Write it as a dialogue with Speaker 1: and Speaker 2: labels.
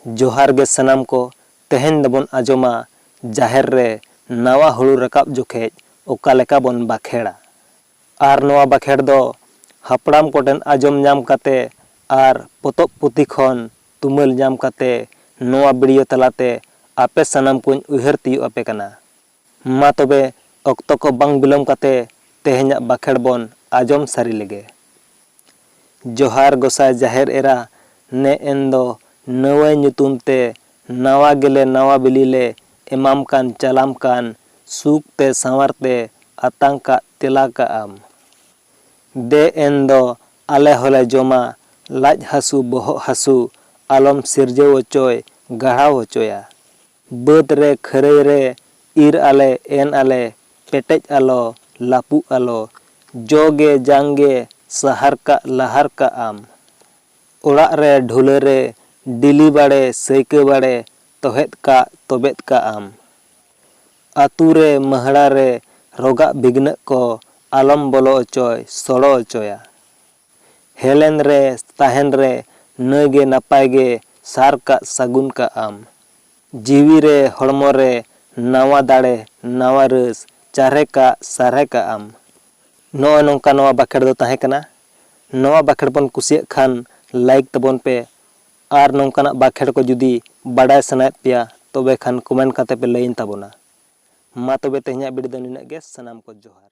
Speaker 1: ᱡᱚᱦᱟᱨ ᱜᱮ ᱥᱟᱱᱟᱢ ᱠᱚ ᱛᱮᱦᱮᱧ ᱫᱚᱵᱚᱱ ᱟᱸᱡᱚᱢᱟ ᱡᱟᱦᱮᱨ ᱨᱮ ᱱᱟᱣᱟ ᱦᱩᱲᱩ ᱨᱟᱠᱟᱵ ᱡᱚᱠᱷᱮᱡ ᱚᱠᱟ ᱞᱮᱠᱟ ᱵᱚᱱ ᱵᱟᱠᱷᱮᱲᱟ ᱟᱨ ᱱᱚᱣᱟ ᱵᱟᱠᱷᱮᱲ ᱫᱚ ᱦᱟᱯᱲᱟᱢ ᱠᱚᱴᱷᱮᱱ ᱟᱸᱡᱚᱢ ᱧᱟᱢ ᱠᱟᱛᱮ ᱟᱨ ᱯᱚᱛᱚᱵ ᱯᱩᱛᱷᱤ ᱠᱷᱚᱱ ᱛᱩᱢᱟᱹᱞ ᱧᱟᱢ ᱠᱟᱛᱮ ᱱᱚᱣᱟ ᱵᱤᱰᱤᱭᱳ ᱛᱟᱞᱟᱛᱮ ᱟᱯᱮ ᱥᱟᱱᱟᱢ ᱠᱚᱧ ᱩᱭᱦᱟᱹᱨ ᱛᱤᱭᱳᱜ ᱟᱯᱮ ᱠᱟᱱᱟ ᱢᱟ ᱛᱚᱵᱮ ᱚᱠᱛᱚ ᱠᱚ ᱵᱟᱝ ᱵᱤᱞᱚᱢ ᱠᱟᱛᱮ ᱛᱮᱦᱮᱧᱟᱜ ᱵᱟᱠᱷᱮᱬ ᱵᱚᱱ ᱟᱡᱚᱢ ᱥᱟᱹᱨᱤ ᱞᱮᱜᱮ᱾ ᱡᱚᱦᱟᱨ ᱜᱚᱥᱟᱭ ᱡᱟᱦᱮᱨ ᱮᱨᱟ ᱱᱮ ᱮᱱ ᱫᱚ ᱱᱟᱹᱣᱟᱹᱭ ᱧᱩᱛᱩᱢ ᱛᱮ ᱱᱟᱣᱟ ᱜᱮᱞᱮ ᱱᱟᱣᱟ ᱵᱤᱞᱤ ᱞᱮ ᱮᱢᱟᱢ ᱠᱟᱱ ᱪᱟᱞᱟᱢ ᱠᱟᱱ ᱥᱩᱠ ᱛᱮ ᱥᱟᱶᱟᱨ ᱛᱮ ᱟᱛᱟᱝ ᱠᱟᱜ ᱛᱮᱞᱟ ᱠᱟᱜ ᱟᱢ ᱫᱮ ᱮᱱ ᱫᱚ ᱟᱞᱮ ᱦᱚᱞᱮ ᱡᱚᱢᱟ ᱞᱟᱡ ᱦᱟᱹᱥᱩ ᱵᱚᱦᱚᱜ ᱦᱟᱹᱥᱩ ᱟᱞᱚᱢ ᱥᱤᱨᱡᱟᱹᱣ ᱚᱪᱚᱭ ᱜᱟᱲᱦᱟᱣ ᱚᱪᱚᱭᱟ᱾ ᱵᱟᱹᱫᱽ ᱨᱮ ᱠᱷᱟᱹᱨᱟᱹᱭ ᱨᱮ ᱤᱨ ᱟᱞᱮ ᱮᱱ ᱟᱞᱮ ᱯᱮᱴᱮᱡ ᱟᱞᱚ ᱞᱟᱹᱯᱩᱜ ᱟᱞᱚ ᱡᱚ ᱜᱮ ᱡᱟᱝ ᱜᱮ ᱥᱟᱦᱟᱨ ᱠᱟᱜ ᱞᱟᱦᱟᱨ ᱠᱟᱜ ᱟᱢ ᱚᱲᱟᱜ ᱨᱮ ᱰᱷᱩᱞᱟᱹ ᱨᱮ ᱰᱤᱞᱤ ᱵᱟᱲᱮ ᱥᱟᱹᱭᱠᱟᱹ ᱵᱟᱲᱮ ᱛᱚᱦᱮᱫ ᱠᱟᱜ ᱛᱚᱵᱮᱫ ᱠᱟᱜ ᱟᱢ ᱟᱹᱛᱩ ᱨᱮ ᱢᱟᱹᱦᱲᱟ ᱨᱮ ᱨᱚᱜᱟᱜ ᱵᱤᱜᱽᱱᱟᱹᱜ ᱠᱚ ᱟᱞᱚᱢ ᱵᱚᱞᱚ ᱚᱪᱚᱭ ᱥᱚᱲᱚ ᱚᱪᱚᱭᱟ ᱦᱮᱞᱮᱱ ᱨᱮ ᱛᱟᱦᱮᱱ ᱨᱮ ᱱᱟᱹᱭ ᱜᱮ ᱱᱟᱯᱟᱭ ᱜᱮ ᱥᱟᱨ ᱠᱟᱜ ᱥᱟᱹᱜᱩᱱ ᱠᱟᱜ ᱟᱢ᱾ ᱡᱤᱣᱤ ᱨᱮ ᱦᱚᱲᱢᱚ ᱨᱮ ᱱᱟᱶᱟ ᱫᱟᱲᱮ ᱱᱟᱶᱟ ᱨᱟᱹᱥ ᱪᱟᱨᱦᱮ ᱠᱟᱜ ᱥᱟᱨᱦᱮ ᱠᱟᱜ ᱟᱢ᱾ ᱱᱚᱜᱼᱚᱭ ᱱᱚᱝᱠᱟ ᱱᱚᱶᱟ ᱵᱟᱠᱷᱮᱬ ᱫᱚ ᱛᱟᱦᱮᱸ ᱠᱟᱱᱟ᱾ ᱱᱚᱶᱟ ᱵᱟᱠᱷᱮᱬ ᱵᱚᱱ ᱠᱩᱥᱤᱭᱟᱜ ᱠᱷᱟᱱ ᱞᱟᱭᱤᱠ ᱛᱟᱵᱚᱱ ᱯᱮ ᱟᱨ ᱱᱚᱝᱠᱟᱱᱟᱜ ᱵᱟᱠᱷᱮᱬ ᱠᱚ ᱡᱩᱫᱤ ᱵᱟᱰᱟᱭ ᱥᱟᱱᱟᱭᱮᱫ ᱯᱮᱭᱟ ᱛᱚᱵᱮ ᱠᱷᱟᱱ ᱠᱚᱢᱮᱱᱴ ᱠᱟᱛᱮ ᱯᱮ ᱞᱟᱹᱭᱟᱹᱧ ᱛᱟᱵᱚᱱᱟ᱾ ᱢᱟ ᱛᱚᱵᱮ ᱛᱮᱦᱮᱧᱟᱜ ᱵᱤᱰᱤ ᱫᱚ ᱱᱤᱱᱟᱹᱜ ᱜᱮ ᱥᱟᱱᱟᱢ ᱠᱚ ᱡᱚᱦᱟᱨ᱾